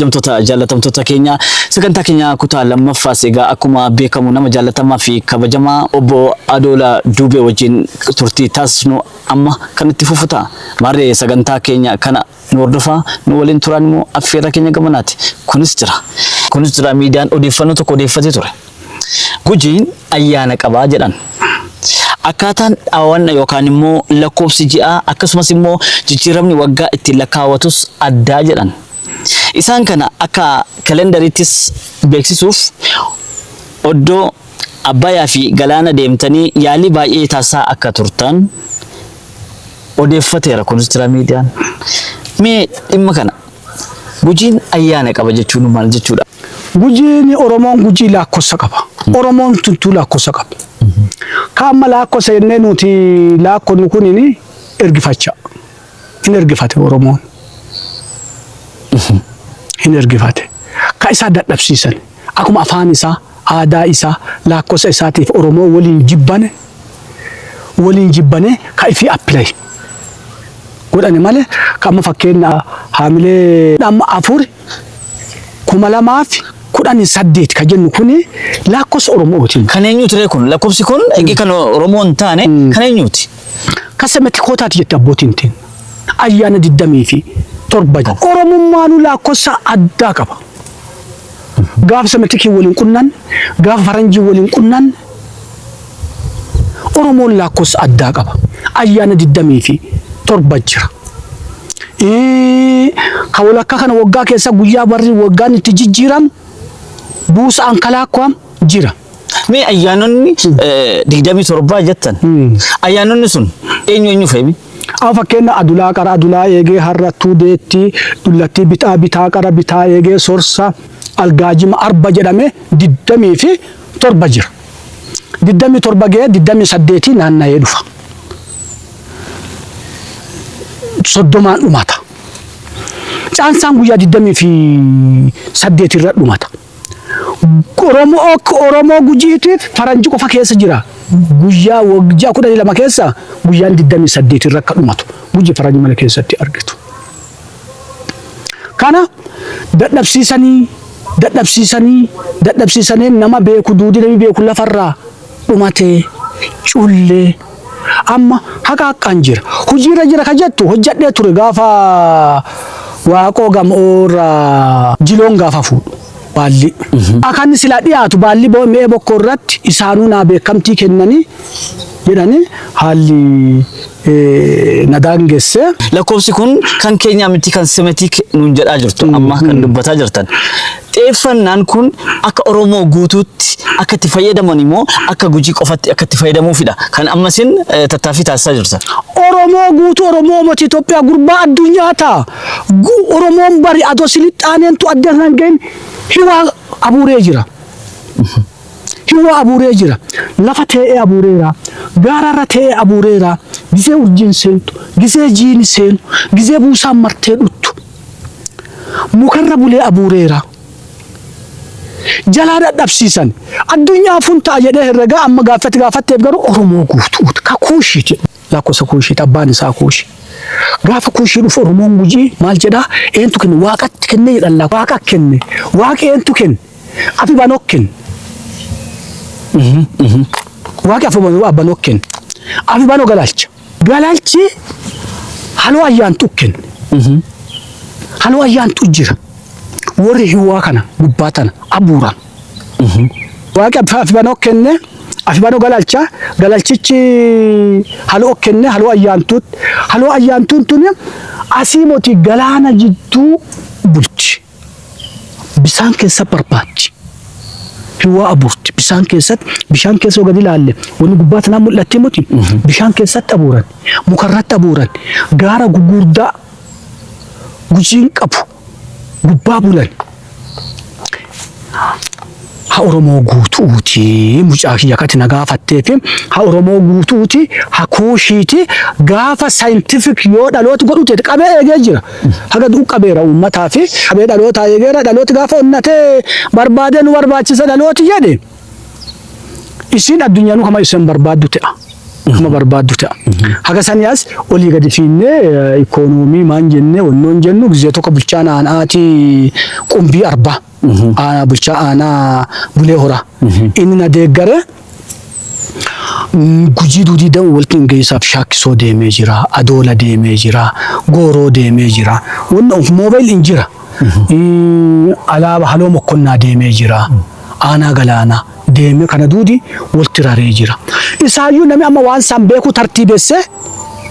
Kabajamtoota jaallatamtoota keenya sagantaa keenya kutaa lammaffaas egaa akkuma beekamu nama jaallatamaa fi kabajamaa obbo Adoola Duubee wajjin turtii taasisnu amma kan itti fufu ta'a. Maarree sagantaa keenya kana nu hordofaa nu waliin turaan immoo affeerraa keenya gamanaati. Kunis jira. Kunis jira miidiyaan odeeffannoo tokko odeeffatee ture. Gujiin ayyaana qabaa jedhan. Akkaataan dhaawwanna yookaan immoo lakkoofsi ji'aa akkasumas immoo jijjiiramni waggaa ittiin lakkaawwatus addaa jedhan. Isaan kana akka kalendariittis beeksisuuf oddoo Abbayaa fi Galaana deemtanii yaalii baay'ee taasisaa akka turtan odeeffateera kunis jira miidiyaan. Mee dhimma kana Gujiin ayyaana qaba jechuun maal jechuudha? Gujiin Oromoon Gujii laakkossa qaba. Oromoon tuntuu laakkossa qaba. Ka amma laakkossa jennee nuti laakkonnu kunini ergifachaa. hin ergifate Oromoon. hin ergifate. Ka isaa dadhabsiisan akkuma afaan isaa, aadaa isaa, laakkosa isaatiif Oromoo waliin jibbane waliin jibbanee ka ifii appilay godhane malee ka amma fakkeenna haamilee amma afur kuma lamaa fi kudhanii saddeet ka jennu kuni laakkosa Oromootiin. Kan eenyuuti ree kun? Lakkoofsi kun egaa kan Oromoo hin taane kan eenyuuti? Kasa mati kootaati jette abbootiin teen. Ayyaana 27 jira. Oromummaanuu laakkofsa addaa qaba. Gaafa samatikiin waliin qunnaan, gaafa faranjiin waliin qunnaan Oromoon laakkofsa addaa qaba. Ayyaana 27 jira. Ka walakkaa kana waggaa keessa guyyaa barri waggaan itti jijjiiramu buusa ankalaakkwaam jira. Mee ayyaanonni digdamii torbaa jettan ayyaanonni sun eenyu eenyu fe'imi? Amma fakkeenya adulaa qara adulaa eegee harrattuu deetti dullattii bitaa bitaa qara bitaa eegee sorsa algaajima arba jedhamee digdamii fi torba jira. Digdamii torba ga'ee digdamii saddeetii naanna'ee dhufa. Soddomaan dhumata. Caansaan guyyaa digdamii fi saddeetii irra dhumata. Oromo ok Oromoo gujiitiif faranji qofa keessa jira guyyaa wag ji'a kudhanii lama keessa guyyaan digdamii saddeet irra akka dhumatu guji faranji mana keessatti argitu kana dadhabsiisanii dadhabsiisanii dadhabsiisanee nama beeku duudi nami beeku lafarraa dhumate culle amma haqaaqqaan jira hojiirra jira ka jettu hojjadhee ture gaafa waaqoo gam'oorra jiloon gaafa fuudhu baallii akan silaa dhiyaatu baallii bo- mi'ee bokkoo irratti isaanuu naa beekamtii kennanii jedhanii haalli na daangesse. Lakkoofsi kun kan keenyaa miti kan semetik nuun jedhaa jirtu amma kan dubbataa jirtan. Xeeffannaan kun akka Oromoo guutuutti akka itti fayyadaman immoo akka gujii qofatti akka itti fayyadamuufidha. Kan ammasin tattaaffii taasisaa jirtan. Oromoo guutuu Oromoo mati Itoophiyaa gurbaa addunyaa ta'a. Oromoon bari adoo silixxaaneentu adda hin gahin hiwaa abuuree jira. Hiwwa abuuree jira. Lafa tee'ee abuureera. Gaara irra tee'ee abuureera. Gizee urjiin seentu, gizee jiini seenu, gizee buusaan martee dhuttu. Muka irra bulee abuureera. Jalaa dhadhabsiisan. Addunyaa afun ta'a jedhee herregaa amma gaaffii ati gaafatteef garuu Oromoo guutuuti. Ka Kuushiiti. Lakkosa Kuushiiti. Abbaan isaa Kuushi. Gaafa Kuushii dhufu Oromoon Gujii maal jedhaa? Eentu kenne? Waaqatti kenne jedhan laa. Waaqa kenne. Waaqi eentu kenne? Afi banokken. Waaqi afi banokken. Afi bano galalcha. Galalchi haloo ayyaan tukken. Haloo ayyaan tu jira. Warri hiwaa kana gubbaa tana abuuran. Waaqi afi bano kenne. Afi bano galalcha. Galalchichi haloo kenne haloo ayyaan tut. Haloo ayyaan tun tuni asii moti galaana jidduu bulchi. bisaan keessa barbaachi. Hiwaa abuurti. Bisaan keessatti bishaan keessa yoo gadi ilaalle wanni gubbaa tanaa mul'atti muti. Bishaan keessatti abuuran. Mukarratti abuuran. Gaara gugurdaa gujiin qabu gubbaa bulan. ha oromoo guutu'uuti mucaa kiyya kati na gaafatteefi ha oromoo guutu'uuti ha kuushiiti gaafa scientific yoo dhalooti godhu teete qabee eegee jira haga du'u qabeera uummataa fi qabee dhalootaa eegeera dhalooti gaafa onnatee barbaadee nu barbaachisa dhalooti jedhe isiin addunyaanuu kama isin barbaaddu ta'a kama barbaaddu ta'a haga sanii as olii gadi fiinnee ikoonoomii maan jennee wannoon jennu gizee tokko bulchaan aanaatii qumbii arbaa aanaa bulchaa aanaa bulee horaa inni na deeggare mm, gujii duudii dan walti hin geessaaf shaakkisoo deemee jira adoola deemee jira gooroo deemee jira wanna of moobayil hin jira Mm, alaaba haloo mokkonnaa deemee jira aanaa galaanaa deemee kana duudi walti raree jira isaayyuu namni amma waan isaan beekuu tartiibessee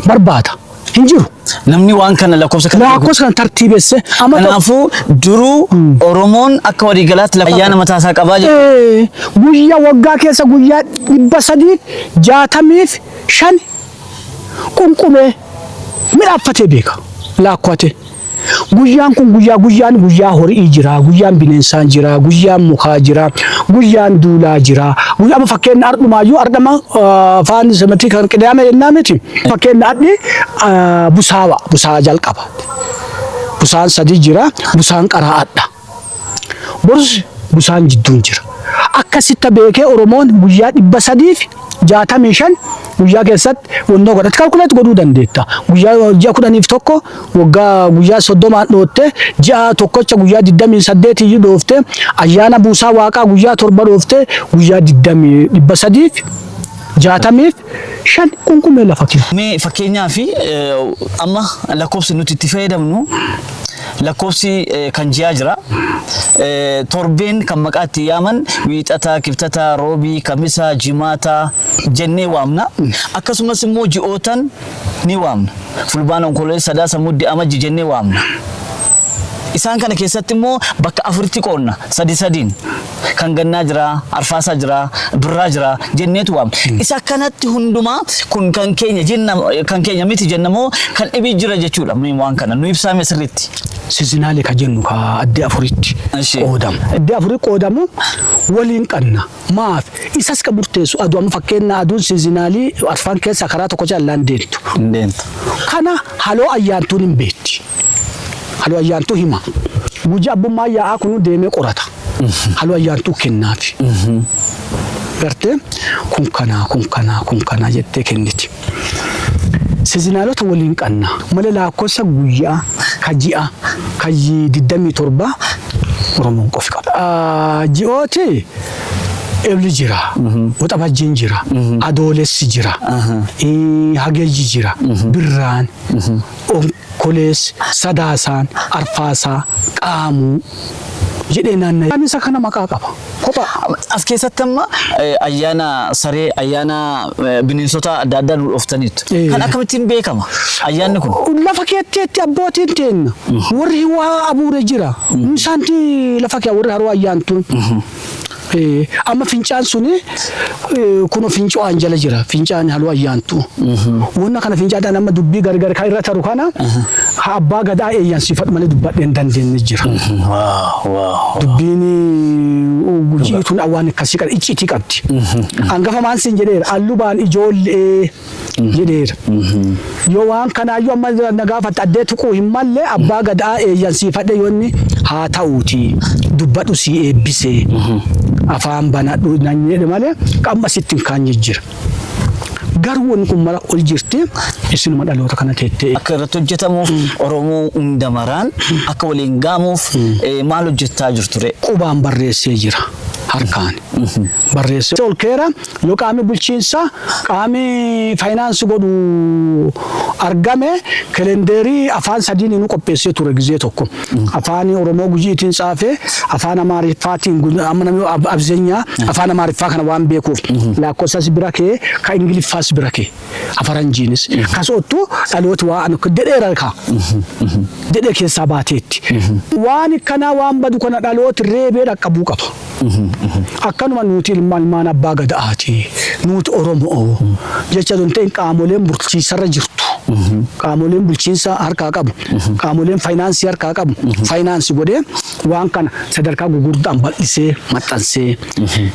barbaada. Hin jiru. Namni waan kana lakkoofsa kana Lakkoofsa kana tartiibesse amma tokko. Kanaafuu duruu Oromoon akka waliigalaatti lafa ayyaana mataa isaa qabaa jira. Ee, guyyaa waggaa keessa guyyaa dhibba sadii jaatamiif shan qunqumee midhaaffatee beeka laakkwatee. Guyyaan kun guyyaa guyyaan guyyaa horii jira, guyyaan bineensaan jira, guyyaan mukaa jira, guyyaan duulaa jira. Guyyaa amma fakkeenya ardhumaayyuu ardhama faan sematii kan qidaame jennaa miti. Fakkeenya adhi busaawa busaa jalqaba. Busaan sadii jira, busaan qaraa adha. Borus busaan jidduun jira. Akka sitta beekee Oromoon guyyaa dhibba sadii fi jaatamii shan guyyaa keessatti wannoo godhatti kalkuleet godhuu dandeetta. Guyyaa ji'a kudhaniif tokko waggaa guyyaa soddomaan dhootte ji'a tokkocha guyyaa digdamii saddeet iyyuu dhoofte ayyaana buusaa waaqaa guyyaa torba dhoofte guyyaa digdamii dhibba sadii fi jaatamii fi shan kun kun mee lafa kee. Mee fakkeenyaaf amma lakkoofsi nuti itti fayyadamnu lakkoofsi eh, kan ji'aa jira. Eh, Torbeen kan maqaa itti yaaman wiixata, kibxata, roobii, kamisa, jimaata jennee waamna. Akkasumas immoo ji'ootan ni waamna. Fulbaana, onkololeessa, sadaasa, muddi, amajji jennee waamna. Isaan kana keessatti immoo bakka afuritti qoodna sadi sadiin. kan gannaa jira, arfaasaa jira, birraa jira jenneetu waamna. Isa kanatti hundumaa kun kan keenya jenna kan keenya miti jenna moo kan dhibii jira jechuudha mee waan kana nu ibsaame sirriitti. Sizinaalee kan jennu ka adda afuritti Eshi. qoodamu. Adda afurii qoodamu waliin qabna. Maaf isas kan murteessu aduu amma fakkeenya aduun sizinaalii arfaan keessa karaa tokko jallaan deemtu. Deemtu. Kana haloo ayyaantuun hin beekti. Halu Ayyaantuu hima. Guji abbummaan yaa'aa kunu deemee qorata. Halu Ayyaantuu kennaafi. Gartee kun kanaa kun kanaa kun kanaa jettee kenniti. Sizinaalota waliin qanna. Mala laakkossa guyyaa, ka ji'a, ka yi- digdamii torbaa Oromoon qofi qaba. Ah, Ji'ooti Ebli jira, Waxabajjiin jira, Adoolessi jira, eh, Hagayyi jira, Birraan, Onkoleessi, Sadaasaan, Arfaasaa, Qaamuu jedhee naanna'ee. Ayyaanni isa kana maqaa qaba. Kophaa. As keessatti amma ayyaana saree, ayyaana bineensotaa adda addaa nu dhooftaniittu. Kan akkamittiin beekama ayyaanni kun? Lafa keetteetti abbootiin teenna warri waa abuure jira. Isaanti lafa kee warri haroo ayyaantuun Amma fincaan sun kuno finco'aan jala jira. Fincaan haluu ayyaantu. Wanna kana fincaadhaan amma dubbii gargar kan irra taru kana ha abbaa gadaa eeyyansifadhu malee dubbadhee hin dandeenye jira. Dubbiin gujii tun waan akkasii qaba iccitii qabdi. Angafa maan siin jedheera allubaan ijoollee. jedheera. Yoo waan kanaayyuu amma na gaafatte addee tuquu hin malle abbaa gadaa eeyyansiifadhe yoo inni haa ta'uuti dubbadhu sii eebbise afaan banadhu nan jedhe malee qamma sitti hin kaanye jira. Garuu wanni kun mara ol jirti isinuma dhaloota kana teettee akka irratti hojjetamuuf Oromoo hunda maraan akka waliin gaamuuf eh, maal hojjettaa jirture? qubaan barreessee jira harkaan barreessee ol keera Yoo qaamni bulchiinsaa, qaamni faayinaansi godhu argame kelendeerii afaan sadiiniinuu qopheessee ture gizee tokko. Afaan Oromoo Gujiitiin tsaafe, afaan Amaariffaatiin gu- amma namni ab- abzenyaa afaan Amaariffaa kana waan beekuuf laakkofsas bira kee ka Ingiliffaas bira kee afaranjiinis kas ottu dhalooti waa anu dedheera ka dedhee keessaa baateetti. Waan kanaa waan badu kana dhalooti reebee dhaqqabuu qaba. Akkanuma nuuti ilma ilmaan abbaa gada'aati. Nuuti Oromoo jecha osoo hin ta'in qaamoleen bulchiinsarra jirtu. Qaamoleen bulchiinsa harkaa qabu. Qaamoleen faayinaansii harkaa qabu. Faayinaansi godhee waan kana sadarkaa gugurdaan bal'isee maxxansee.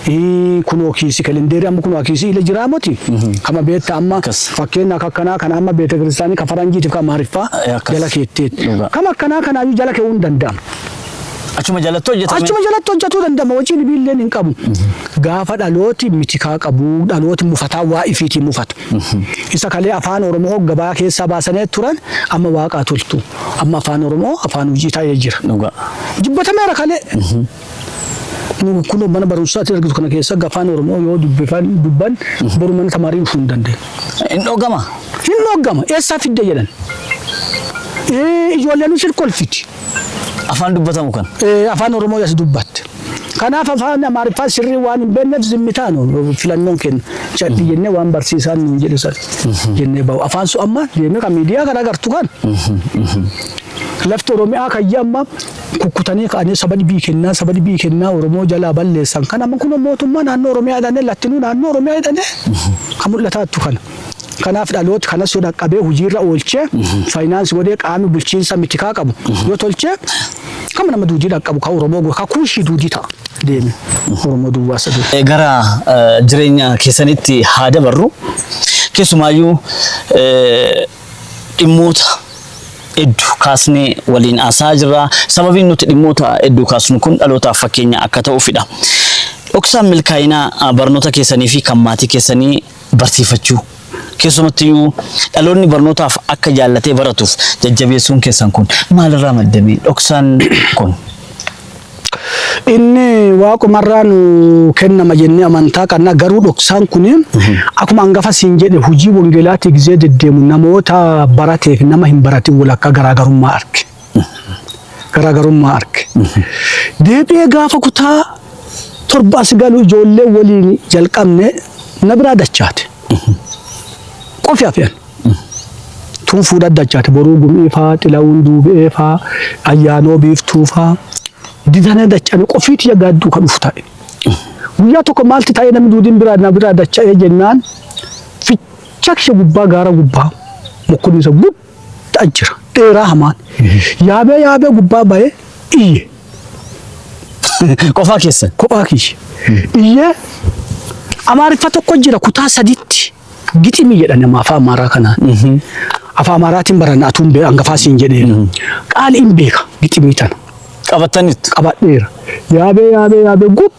Ii, Kunoo kiisi kelendeerii amma kunoo kiisii ila jiraa moti. Kama beetta amma Akkas. fakkeenya akka akkanaa kana amma beeta kiristaanii ka faranjiitiif ka maariffaa Eh, akkas. jala keetteetti. Dhugaa. Kama akkanaa kanaayyuu jala keewuu hin danda'amu. Achuma jalatti hojjetame. Achuma jalatti hojjetuu danda'ama hojii dhibiilleen hin qabu. Gaafa dhalooti mitikaa qabu dhalooti mufataa waa ifiitii mufatu. Isa kalee afaan Oromoo gabaa keessaa baasanee turan amma waaqaa toltu. Amma afaan Oromoo afaan hojii ta'ee jira. Dhugaa. Jibbatameera kalee. Nu kun mana barumsaatti argitu kana keessa afaan Oromoo yoo dubbifan dubban boru mana tamaarii dhufuu hin dandeenye. Hin dhogama. Hin dhoggama eessaa fidde jedhan. Eh, Ijoolleen isheen kolfiti. Afaan dubbatamu kan. Eh, afaan Oromoo as dubbatte. Kanaaf afaan Amaariffaa sirrii waan hin beekneef zimmitaan filannoon kenna. Cadhi jennee waan barsiisaan nuun jedhu san jennee bahu. Afaan sun amma deemee kan miidiyaa kan agartu kan. Lafti Oromiyaa kayya amma kukkutanii ka'anii saba dhibii kennaa saba dhibii kennaa Oromoo jalaa balleessan kan amma kun mootummaa naannoo Oromiyaa jedhanii lattinuu naannoo Oromiyaa jedhanii kan mul'ataattu kana. Kanaaf dhalooti kanas yoo dhaqqabee hojiirra oolchee faayinaansi godhee qaami bulchiinsa mitikaa qabu yoo tolchee kama nama duudii dhaqqabu ka Oromoo go- ka kuushii duudii ta'a deeme Oromoo duwwaa saduu. Eh, gara eh, jireenya keessanitti haa dabarru keessumaayyuu eh, dhimmoota hedduu kaasnee waliin haasa'aa jirra sababiin nuti dhimmoota hedduu kaasnu kun dhalootaaf fakkeenya akka ta'uufidha. Dhoksaan milkaa'inaa ah, barnoota keessanii fi kan maatii keessanii barsiifachuu, keessumattiyyuu dhaloonni barnootaaf akka jaallatee baratuuf jajjabeessuun keessan kun maalirraa madde mee? Dhoksaan kun. Inni waaqumarraa nu kennama jennee amantaa qabna garuu dhoksaan kun akkuma hangafa siin jedhe hojii wangeelaatii gizee deddeemu namoota barateef nama hin baratin walakkaa garaagarummaa arge. garaagarummaa arge. Deebi'ee gaafa kutaa torba as galu ijoollee waliin jalqabne na biraa dachaate. Qofi hafeen. Tun fuudha dachaate boruu gumii faa, xilawuun duubi'ee faa, ayyaanoo biiftuu faa. Didana dachane qofii tiyya gaadduu ka dhufu ta'e. Guyyaa tokko maalti ta'ee namni duudiin biraa na biraa dacha'ee jennaan ficha kiyya gubbaa gaara gubbaa mukkunni isa gud dha jira. Dheeraa hamaan. Yaabee yaabee gubbaa ba'ee iyye. Qofaa keessan. Kophaa kiyya. Iyyee Amaariffa tokko jira kutaa sadiitti. Giximii jedhan amma afaa Amaaraa kanaan. Afaa Amaaraatiin baranna atuun bee hangafaa siin jedhee. Qaali hin beeka giximii tana. Qabattanitti. Qabadheera. Yaabee yaabee yaabee gub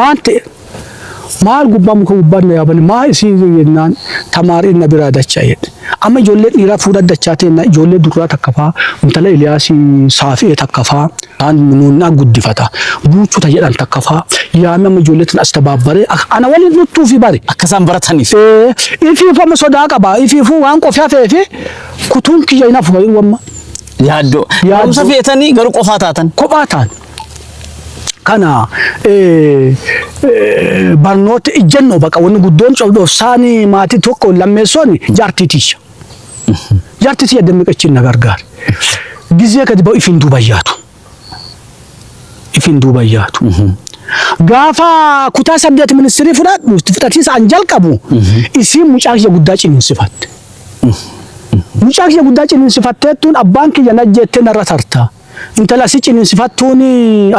Maan ta'e? Maal gubbaa muka gubbaan na yaabanii maa isiin jedhe jennaan tamaariin na biraa dachaa jedhe. Amma ijoollee dhiiraa fuudhan dachaa teenna ijoollee durraa takka faa intala Eliyaasii saafi'ee takka faa taan nuunnaa guddifata buuchuta jedhan takka faa yaamee amma ijoollee tana as tabaabbaree akka ana waliin dhuttuu fi bari. Akka isaan barataniif. Ee, ifiifu amma sodaa qaba ifiifu waan qofi hafee fi kutuun kiyya hin hafu fayyuu amma Yaaddoo. Yaaddoo. Barumsa feetanii garuu qofaa taatan. kophaa taan. kana barnoota ijjannoo baqa wanni guddoon cobdhofsaani maatii tokko lammeessoon jaartii tiyya. Jaartii tiyya dammiqachiin na gargaara. Gizee gadi ba'u ifin duuba yaadu. Ifin duuba yaadu. Gaafa kutaa saddeet ministirii fudhadhu itti fudhatiisa an jalqabu isiin mucaa kiyya guddaa ciniinsifatte. Mucaa kiyya guddaa ciniinsifatteettuun abbaan kiyya najjeettee narra tarta. Intala si ciniinsifattuun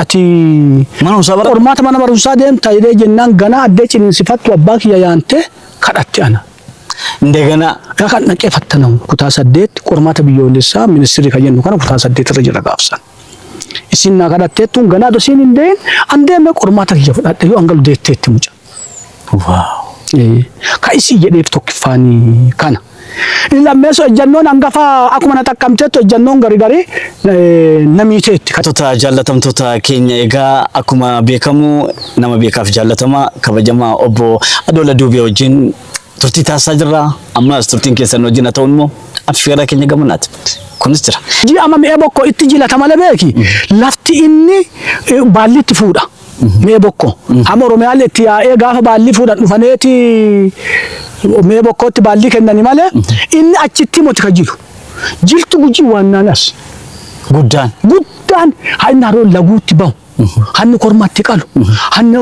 ati Mana barumsaa bara. qormaata mana barumsaa deemta jedhee jennaan ganaa addee ciniinsifattu abbaa kiyya yaantee kadhatte ana. Indeganaa. Dhaqan dhaqee fattanamu kutaa saddeet qormaata biyyoolessaa ministirri kan jennu kana kutaa saddeet irra jira gaafsan. Isin naa kadhatteettuun ganaa dosiin hin deeyin an deemee qormaata kiyya fudhadhe yoo an galu deetteetti muca. Ka isii jedheef tokkiffaani kana. Inni lammeessoo ejjannoon hangafa akkuma na xaqqamteettu ejjannoon garigari na miiteetti. Hattoota jaallatamtoota keenya egaa akkuma beekamu nama beekaaf jaallatamaa kabajamaa obbo Adoola Duubee wajjin turtii taasisaa jirra. Ammas turtiin keessan wajjin haa ta'u immoo affeerraa keenya gamanaati. Kunis jira. Ji ama mi'ee bokkoo itti jilata male beeki lafti inni baalli itti fuudha. Mee bokko. Amma Oromiyaan itti yaa'ee gaafa baallii fuudhan dhufaneeti mee bokkootti baallii kennani malee inni achitti moti ka jiru. Jirtu gujii waannaan as. Guddaan. Guddaan hanni haroon laguutti bahu. Hanni kormatti qalu. Hanni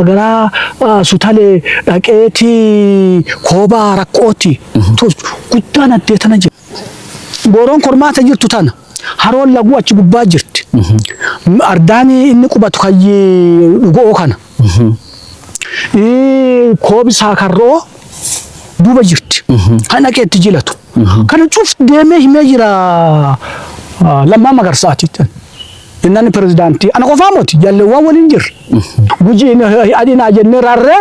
garaa ah, sutalee dhaqeeti koobaa rakkootti tolchu. Guddaan addee tana jira. Gooroon kormaata jirtu tana. Haroon laguu achi gubbaa jirti. Ardaan inni qubatu kayyi dhugo'oo kana. Ii, Koobi saakarro'oo duuba jirti. Kan dhaqee itti jilatu. Kana cuf deemee himee jira ah, Lammaa Magarsaati. Innaan pirezidaantii. Ana qofaa moti jaalleewwan waliin jirra. Gujiin eh, adinaa jennee raarree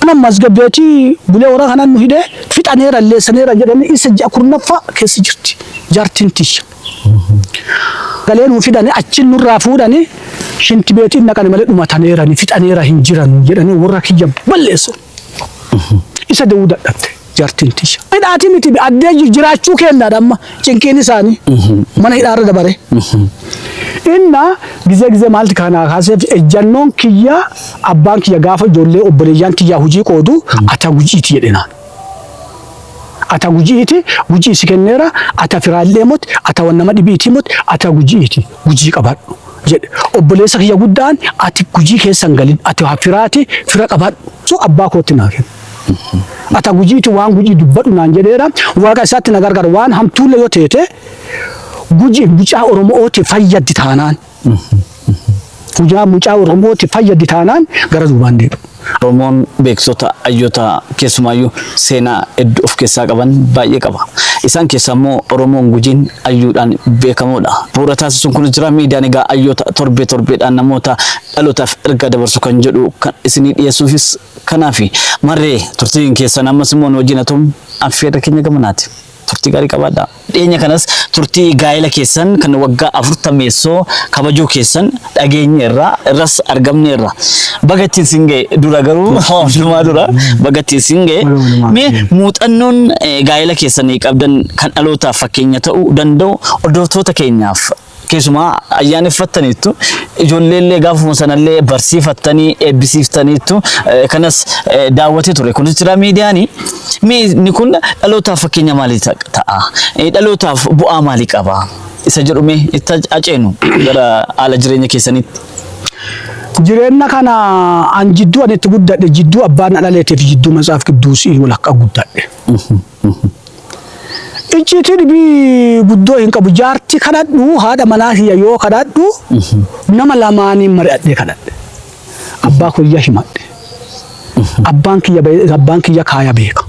Mana masgabbeeti bulee warra kanaan nu hidhee fixaneera alleessaneera jedhanii isa ji'a kurnaffaa keessa jirti jaartiin tiyya. Galee nu fidanii achiin nurraa fuudhanii shinti beetiin naqani malee dhumataneerani fixaneera hin jiran jedhanii warra kiyya balleessan. Isa da'uu dadhabde. jartin tiya. Hidhaati miti be addee jiraachuu keennaadha amma cinqiin isaanii mana hidhaa irra dabare. Inna gizee gizee maalti kaanaa kaaseef ejjannoon kiyya abbaan kiyya gaafa ijoollee obboleeyyaan tiyyaa hujii qoodu ata gujiiti jedhenaan. Ata gujiiti gujii si kenneera ata firaallee moti ata wan nama dhibiitii moti ata gujiiti gujii qabadhu jedhe obboleessa kiyya guddaan ati gujii keessan galin ati haa firaati fira qabadhu so abbaa kootti naa kenna. Ata gujiiti waan gujii dubbadhu naan jedheera. Waaqa isaatti na gargaara. Waan hamtuulle yoo teete guji mucaa Oromo'ooti fayyaddi taanaan. Hujaa mucaa Oromooti fayyaddi taanaan gara duubaan deebi'u. Oromoon beeksota hayyoota keessumaayyuu seenaa hedduu of keessaa qaban baay'ee qaba. Isaan keessaa immoo Oromoon gujiin hayyuudhaan beekamoodha. Bu'uura taasisuun kun jira miidiyaan egaa hayyoota torbee torbeedhaan namoota dhalootaaf ergaa dabarsu kan jedhu kan isinii dhiyeessuufis Kanaafi, marree, turtiin keessan ammas immoo nu wajjin haa ta'u affeerra keenya gamanaati. Turtii gaarii qabaadhaa. Dhiyeenya kanas turtii gaa'ela keessan kan waggaa afurtameessoo kabajuu keessan dhageenyeerra, irras argamneerra. Baga ittiin sin ga'e. Dura garuu waan hundumaa dura baga ittiin sin ga'e. Baga walumaan Mee geenye. muuxannoon eh, gaa'ela keessanii qabdan kan dhalootaaf fakkeenya ta'uu danda'u hordoftoota keenyaaf keessumaa ayyaaneffattaniittu ijoolleellee gaafuma sanallee barsiifattanii eebbisiiftaniittu eh, kanas eh, daawwatee ture kunis jira miidiyaani mee inni kun dhalootaaf fakkeenya maalii ta- ta'a Eh, dhalootaaf bu'aa maalii qaba isa jedhu mee itti ac- aceenu gara haala jireenya keessanitti Jireenya kana an jidduu ani itti guddadhe jidduu abbaan na dhaleetiif jidduu matsaaf qidduusii walakkaa guddadhe. Icciitii dhibii guddoo hin qabu. Jaartii kadhadhu haadha manaa kiyya yoo kadhadhu nama lamaaniin mari'adhee kadhadhe. Abbaa kiyya himadhe. Abbaan kiyya ba'e- abbaan kiyya kaaya beeka.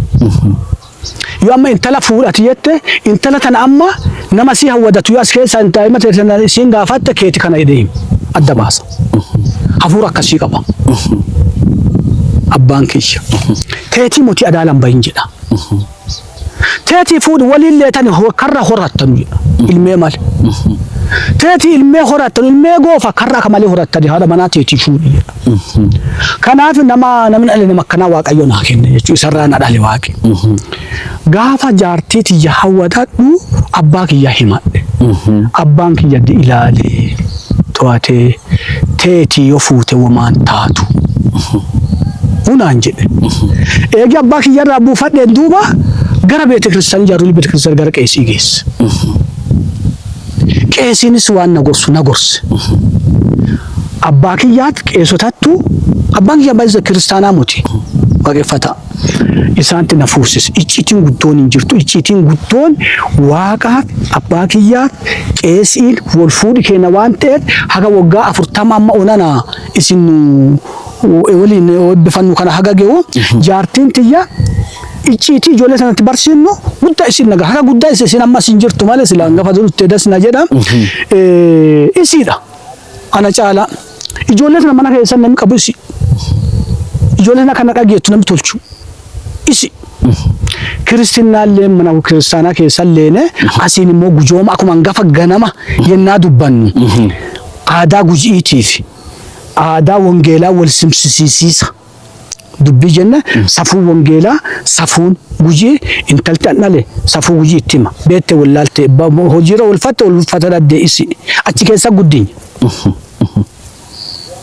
Yoo amma intala fuudhati jette intala tana amma nama si hawwadatu yoo as keessa hin taa'ima ta'e sana isiin gaafatte keeti kana jedhee adda baasa. hafuura akkasii qaba. Abbaan kiyya teetii motii adaalaan bahin jedha. Teetii fuudhi waliin leetan karra horattanu jedha. Ilmee maal? Teetii ilmee horattanu ilmee goofa karra akka malee horattani haadha manaa teetii fuudhi jedha. Kanaaf nama namni dhale nama akkanaa waaqayyo naa kenne jechuun isarraa na dhale waaqi. Gaafa jaartii tiyya hawwatadhu abbaa kiyya himadhe. Abbaan kiyya ilaalee. to'atee teetii yoo fuute wamaan taatu hunaan jedhe eegi abbaa kiyya irraa buufadheen duuba gara beete kiristaanii jaarolii beete kiristaanii gara qeesii geesse qeesiinis waan na gorsu na gorse abbaa kiyyaat qeesotattu abbaan kiyya baay'isa kiristaanaa muti waaqeffataa isaanti na fuusis icciitiin guddoon hin jirtu icciitiin guddoon waaqaaf abbaa kiyyaaf qeesiin wal fuudhi keenya waan ta'eef haga waggaa afurtama amma onana isin nu waliin eebbifannu kana haga ge'u jaartiin tiyya icciitii ijoollee sanatti barsiifnu guddaa isin naga haga guddaa isin amma isin jirtu malee sila hangafa durutti edas na jedha isiidha. Kana caalaa ijoollee tana mana keessan namni qabu isi. Ijoollee tana kana dhageettu namni tolchu isi. Kiristinnaallee mana kiristaanaa keessan leene asiin immoo gujooma akkuma hangafa ganama yennaa dubbannu aadaa guji'iitiif aadaa wangeelaa wal simsisiisiisa. dubbii jenna safuu wangeelaa safuun gujii intalti an dhale safuu gujii itti hima beette wallaalte ba- mo- hojiirra ulfatte ulfata dhabdee isi achi keessa guddinya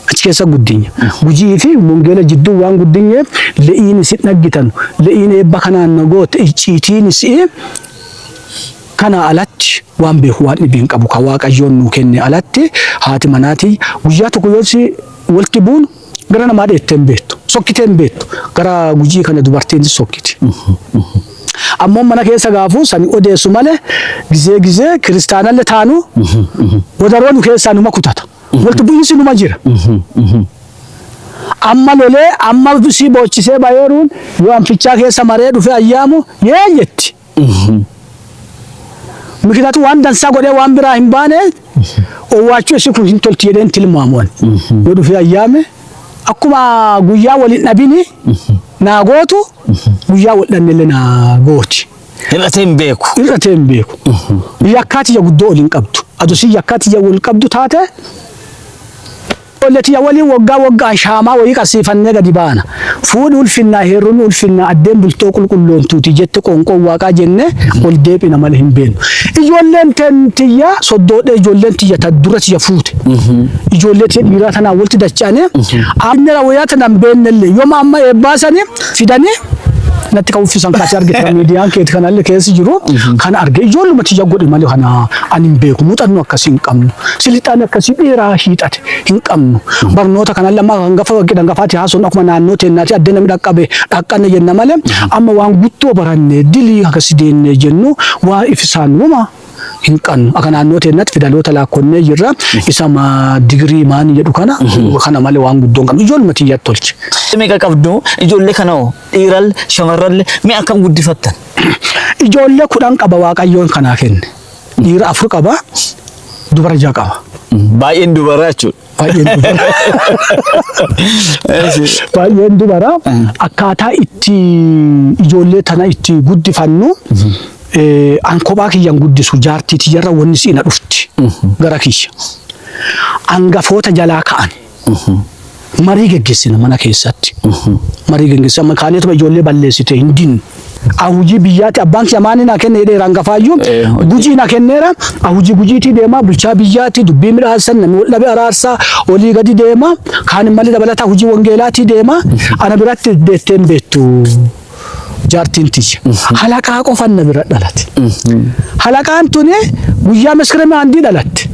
achi keessa guddinya gujii fi wangeela jidduu waan guddinyeef le'iin isin dhaggitanu le'iin eebba kanaan na goote icciitiin isi'ee kana alatti waan beeku waan dhibii hin qabu ka waaqayyoon nuu kenne alatti haati manaatii guyyaa tokko yoo si walti buunu Gara namaa dheettee hin beektu. Sokkitee hin beektu. Gara gujii kana dubartiin sokkiti. Ammoo mana keessa gaafuu sani odeessu malee gizee gizee kiristaanalle taanu wadaroo nu keessaa numa kutata. Walti bu'iinsi numa jira. Amma lolee amma sii boochisee bayeeruun yoo anfichaa keessa maree dhufe ayyaamu yee jetti. Mikinaatu waan dansaa godhee waan biraa hin baane owwaachuu isii kun hin tolti jedheen tilmaamuwan. Yoo dhufee ayyaame akkuma guyyaa waliin dhabini naa gootu guyyaa wal dhabnellee naa gooti. Hir'atee hin beeku. Hir'atee hin beeku. Yakkaa tiyya guddoo ol hin qabdu. Adusii yakkaa tiyya wal qabdu taate Ijoollee tiyya waliin woggaa woggaan shaamaa woyii qarsiifannee gadi baana. Fuudhi ulfinnaa, heerumi ulfinnaa, addeen bultoo qulqulloontuuti jette qoonqoon Waaqaa jennee ol deebina malee hin beennu. Ijoolleen teen tiyya soddoodhee ijoolleen tiyya ta dura tiyya fuute. Ijoollee tiyya dhiiraa tanaan walitti dacha'anee, Aabneraa woyaa tana hin beennellee, yoma amma eebbaa sani, fidanii natti kan uffisan kan ati argite kan miidiyaan keeti kan alli keessi jiru kan arge ijoolluma tiyya godhe malee kana ani hin beeku muuxannoo akkasii hin qabnu silixaan akkasii dheeraa hiixate hin qabnu barnoota kan alli amma kan gafa waggi dhangafaati haasuun akkuma naannoo teennaati adda namni dhaqqabe dhaqqanne jenna malee amma waan guttoo baranne dilii akkasi deenne jennu waa ifisaan wuma hin qannu. Aka naannoo teennatti fidaloota laakkonnee jirra. Isa ma digirii maani jedhu kana kana malee waan guddoo hin qabnu. Ijoolma tiyyatti tolche. Meeqa qabdu ijoollee kana hoo dhiiral shamarralle mee akkam guddifattan? Ijoollee kudhan qaba waaqayyoon kanaa kenne. Dhiira afur qaba dubara ja'a qaba. Baay'een dubaraa jechuudha. Baay'een dubara. Baay'een dubara. Akkaataa itti ijoollee tana itti guddifannu eh, an kophaa kiyyan guddisu jaartii tiyyarra wanni si'ina dhufti gara kiyya. Angafoota jalaa ka'an. Marii geggeessina mana keessatti. Marii geggeessina. Kaaneetuma ijoollee balleessite hin dinnu. An hojii biyyaatti abbaan kiyya maanii naa kenne jedheera hangafaayyuu. Eh, hojii. Gujii na kenneera. An hojii gujiitii deemaa bulchaa biyyaatti dubbii midhaassan namni wal dhabe araarsaa olii gadi deema. Kaan immallee dabalataa hojii wangeelaatii deema. Ana biratti deettee hin beektu. Jaartiin tiyya. Halaqaa qofan na bira dhalate. Halaqaan tuni guyyaa maskirama handii dhalatte.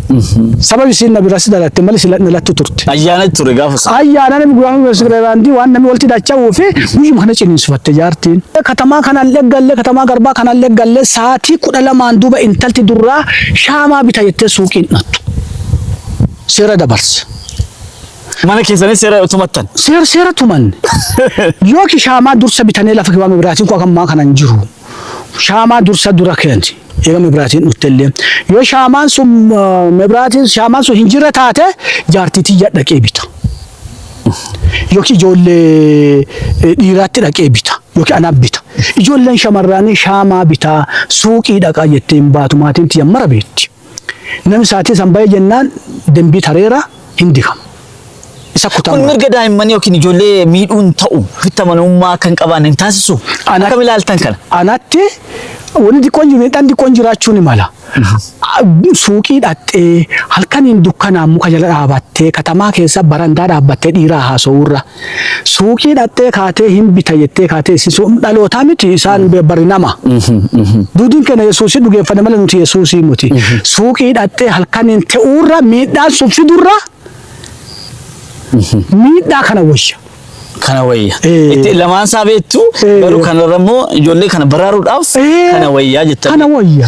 Sabab isiin na bira si dhalatte mali sila na lattu turte. Ayyaana ture gaafa sana. Ayyaana namni guraan mesgreeraandii waan namni walti dacha'uu fi guyyuma kana ciniinsifatte jaartiin. Katamaa kanaan leggalle katamaa garbaa kanaan leggalle saatii kudha lamaan duuba intalti durraa shaamaa bita jettee suuqiin dhattu. Seera dabarse. Mana keessanii seera tumattan. Seera seera tumanne. Yooki shaamaa dursa bitanee lafa kibaame biraatiin koo akammaa kanan jiru. shaamaa dursa dura keensi eega mebraatiin dhuttellee yoo shaamaan sun mebraatiin shaamaan sun hin jirre taate jaartii tiyya dhaqee bita yookiin ijoollee dhiiraatti dhaqee bita yookiin anaaf bita ijoolleen shamarraanii shaamaa bitaa suuqii dhaqaa jettee hin baatu maatiin tiyya mara beetti. Namni saatii san bahee jennaan dembii tareera hin dikama. Isa Kun kutamaa. mirga daa'immanii yookiin ijoollee miidhuun ta'u ofitti amanamummaa akka hin qabaanne hin taasisu. Ana- Akkam ilaaltan kana? Anatti wanni xiqqoon jiru midhaan xiqqoon jiraachuu ni mala. Suuqii dhaxxee halkaniin dukkanaan muka jala dhaabattee katamaa keessa barandaa dhaabbattee dhiiraa haasa'uurra Suuqii dhaxxee kaatee hin bita jettee kaatee isin sun dhalootaa miti isaan bari nama. Duudiin keenya Yesuusii dhugeeffanne malee nuti Yesuusii muti. Suuqii dhaxxee halkaniin ta'uurra miidhaan sun fidurra miidhaa kana wayya. Kana wayya. Eh. Itti lamaan isaa beektu Eh. garuu kanarra immoo ijoollee kana baraaruudhaaf Eh. kana wayyaa jettan. Kana wayya.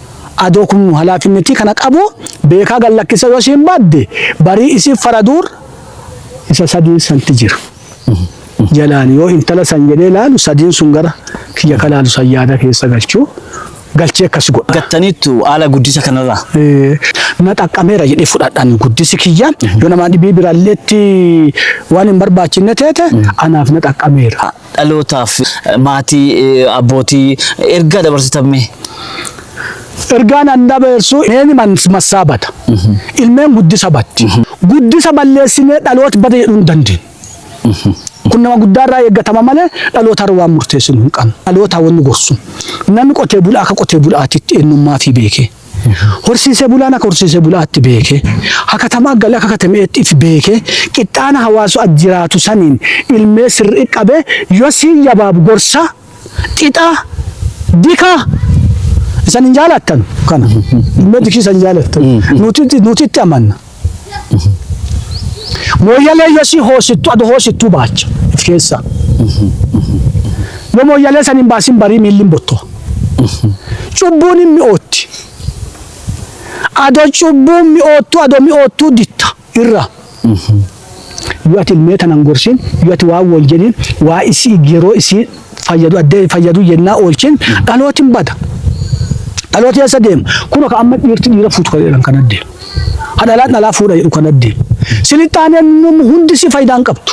Adoo kun halaafinnetii kana qabuu beekaa gad lakkisa yoo isiin badde barii isiif faraduur isa sadiin santi jira. Jalaan yoo intala san jedhee laalu sadiin sun gara kiyya ka laalu san yaada keessa galchuu galchee akkas godha. Gattaniittu haala guddisa kanarraa. Eh, na xaqqameera jedhee fudhadhaan guddisi kiyya yoo namaa dhibii biraalleetti waan hin barbaachinne teete anaaf na xaqqameera. dhalootaaf maatii abbootii ergaa dabarsitan mee? Ergaan an dabarsu neeni massaa bada ilmeen guddisa batti guddisa balleessinee dhaloot bada jedhuu hin dandeenyu. Kun nama guddaa irraa eeggatama malee dhaloota irra waan murteessinu hin qabnu. Dhaloota wanni gorsu namni qotee bulaa akka qotee bulaatitti eenyummaa fi beekee. Horsiisee bulaan akka horsiisee bulaatti beekee, hakatamaa galee akka katameetti if beekee, qixxaana hawaasu at jiraatu saniin ilmee sirrii qabee yoo siin yabaabu gorsaa, xixaa, dikaa isan hin jaalattanu kana ilmee dikii isan hin jaalattu nuti nuti itti amanna. Mooyyalee yoo si hoosittu adu hoosittuu baacha if keessaa. Yoo mooyyalee san hin baasin barii miilli hin bottoa. Cubbuun hin mi'ootti. Ado cubbuun mi'oottuu ado mi'oottuu ditta irraa. Yoo ati ilmee tana hin gorsin yoo ati waan wal jedhin waa isii yeroo isii fayyadu addee fayyadu yennaa oolchin dhalootiin bada. Dhaloota keessa deema. Kun akka amma dhiirti dhiira fuutu kan jedhan kan addee. ha dhalaa dhalaa fuudha jedhu kana deemu. Silixxaaneen num hundi si faayidaa hin qabdu.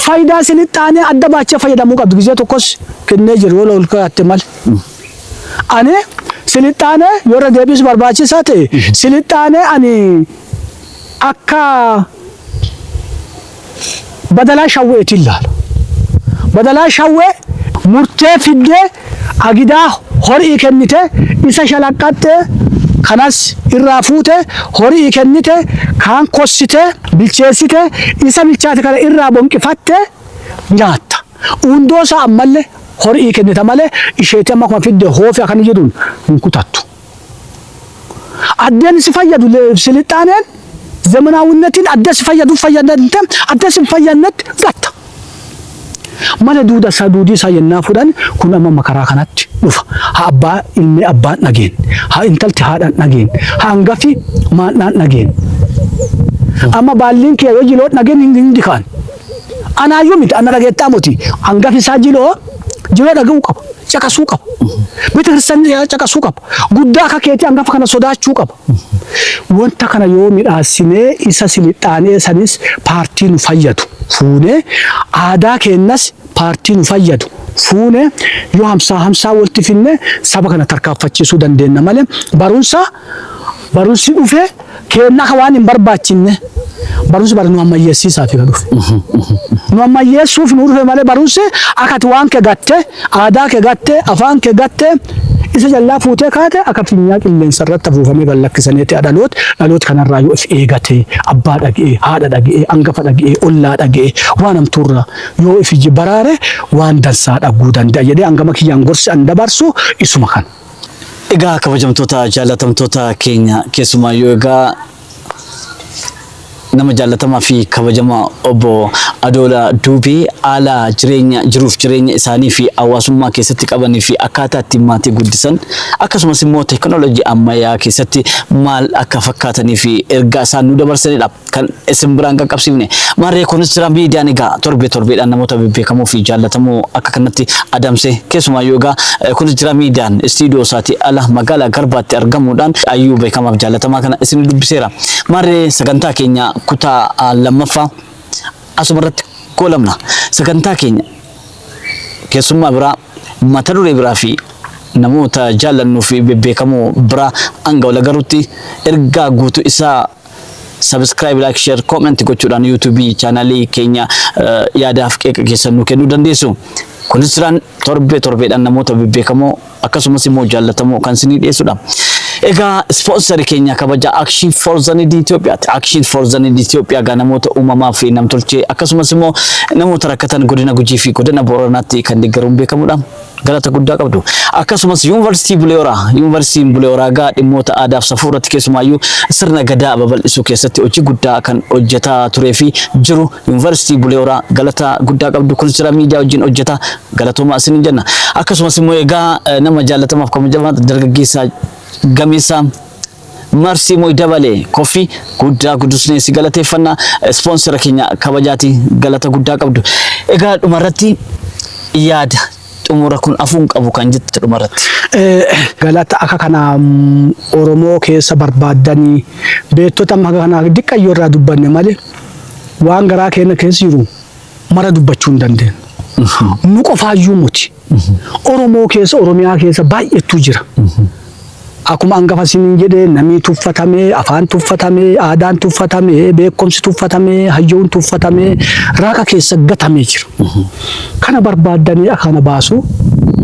Faayidaa silixxaanee adda baachee fayyadamuu qabdu gizee tokkos kennee jiru yoo ol kaatte mal. Ani silixxaanee yoo irra deebiis barbaachisaa ta'e silixxaanee ani akka badalaa shawweetiin laala. Badalaa shawwee murtee fiddee agidaa hori'ii kennitee isa shalaqqaxxee kanas irraa fuutee hori'ii kennitee kaan kossitee bilcheessitee isa bilchaate kana irraa bonqifattee nyaatta. Uundoo isaa ammallee hori'ii kennita malee isheetii amma akkuma fidde hoofii akkana jedhuun hin kutattu. Addeen si fayyadu silixxaaneen zemenaawinetiin adda si fayyadu fayyadamte adda si fayyadnetti gatta. Mana duuda isaa duudii isaa yennaa fudhan kun amma makaraa kanatti dhufa. Ha abbaa ilmee abbaan dhageen. Ha intalti haadhaan dhageen. Ha hangafi maandhaan dhageen. Amma baalliin kiyya yoo jiloon dhageen hin dikaan. Anaayyuu miti anna dhageettaa moti hangafi isaa jiloo jiloo dhaga'uu qaba caqasuu qaba bita kirsan caqasuu qaba guddaa akka keetii hangafa kana sodaachuu qaba wanta kana yoo midhaasinee isa silixaanee sanis paartii nu fayyadu fuunee aadaa keennas paartii nu fayyadu fuune yoo hamsaa hamsaa walti finne saba kana tarkaanfachiisuu dandeenya malee barumsa barumsi dhufee keenna ka waan hin barbaachinne barumsi bara nu ammayyeessiisaafi ka dhufe. Nu ammayyeessuuf nu dhufe malee barumsi akka ati waan kee gatte, aadaa kee gatte, afaan kee gatte isa jallaa fuutee kaate akka finyaa qilleensa irratti afuufamee gad lakkisaneeti dhaloot dhaloot kanarraa yoo if eegate abbaa dhage'ee, haadha dhage'ee, angafa dhage'ee, ollaa dhage'ee waan hamtuurraa yoo if iji baraare waan dansaa dhaguu danda'a jedhee angama kiyyaan gorsi an dabarsu isuma kana. Egaa kabajamtoota jaallatamtoota keenya keessumaayyuu egaa nama jaallatamaa fi kabajamaa obbo Adoola Duubee haala jireenya jiruuf jireenya isaanii fi hawaasummaa keessatti qabanii fi akkaataa ittiin maatii guddisan akkasumas immoo teekinooloojii ammayyaa keessatti maal akka fakkaatanii fi ergaa isaan nu dabarsanidha. kan isin biraan qaqqabsiifne. Maarree Konistiraan Miidiyaan egaa torbee torbeedhaan namoota bebbeekamoo fi jaallatamoo akka kanatti adamse keessumaayyuu egaa eh, Konistiraan Miidiyaan istiidiyoo isaatii ala magaalaa Garbaatti argamuudhaan ayyuu beekamaaf jaallatamaa kana isin dubbiseera. Maarree sagantaa keenya kutaa ah, lammaffaa asumarratti goolabna. Sagantaa keenya keessummaa biraa mata duree biraa fi namoota jaallannuu fi bebbeekamoo biraa hanga wal agarutti ergaa guutuu isaa subscribe like share comment gochuudhaan youtube channel keenya yaadaaf qeeqa keessan nu kennuu dandeessu kunis jiraan torbee torbeedhaan namoota bebbeekamoo akkasumas immoo jaallatamoo kan isinii dhiyeessudha. Egaa ispoonsari keenya kabaja Action for the Need Itoophiyaati. Action for the Need Itoophiyaa gaa namoota uumamaa fi namtolchee akkasumas immoo namoota rakkatan godina Gujii fi godina Booranaatti kan deeggaruun beekamudha. Galata guddaa qabdu. Akkasumas Yuunivarsiitii Bulee Horaa, Yuunivarsiitiin Bulee Horaa egaa dhimmoota aadaaf safuu irratti keessumaayyuu sirna gadaa babal'isuu keessatti hojii guddaa kan hojjetaa turee fi jiru Yuunivarsiitii Bulee Horaa galata guddaa qabdu kunis jira miidiyaa wajjin hojjeta galatooma isiniin jenna. Akkasumas immoo egaa eh, nama jaallatamaaf kabajamaa dargaggeessaa gameessaa Marsii Moy Dabalee, Coffee, guddaa gudusnee si galateeffanna. Ispoonsera keenya kabajaati galata guddaa qabdu. Egaa dhumarratti yaada xumura kun afuu hin qabu kan jettu dhumarratti. Galata akka kana Oromoo keessa barbaaddanii beektota amma akka kanaa diqqayyoo irraa dubbanne malee waan garaa keenya keessa jiru mara dubbachuu hin dandeenyu. Nu qofaayyuu muti. Oromoo keessa Oromiyaa keessa baay'eetu jira. Akkuma hangafa isiniin jedhe namni tuffatame, afaan tuffatame, aadaan tuffatame, beekumsi tuffatame, hayyoon tuffatame, raaqa keessa gatamee jira. Kana barbaaddanii akana baasu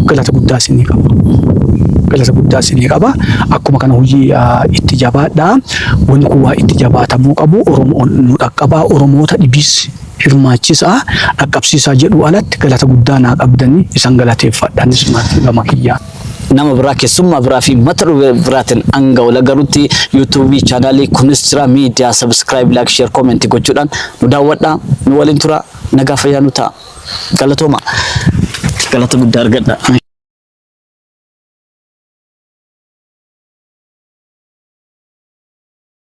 galata guddaa isinii qaba. galata guddaa isinii qaba. Akkuma kana hojii ah, itti jabaadha. Wanni kun waa itti jabaatamuu qabu. Oromoon nu dhaqqabaa. Oromoota dhibiis hirmaachisaa, dhaqqabsiisaa jedhuu alatti galata guddaa naa qabdani isan galateeffadha anis maatii gama kiyyaan. Nama biraa kessummaa biraa fi mata duree biraatin hanga wal agarutti YouTube channel kunis jira media subscribe like share comment gochuudhaan nu daawwadha nu waliin tura nagaa fayyaa nu ta'a galatooma galata guddaa argadha.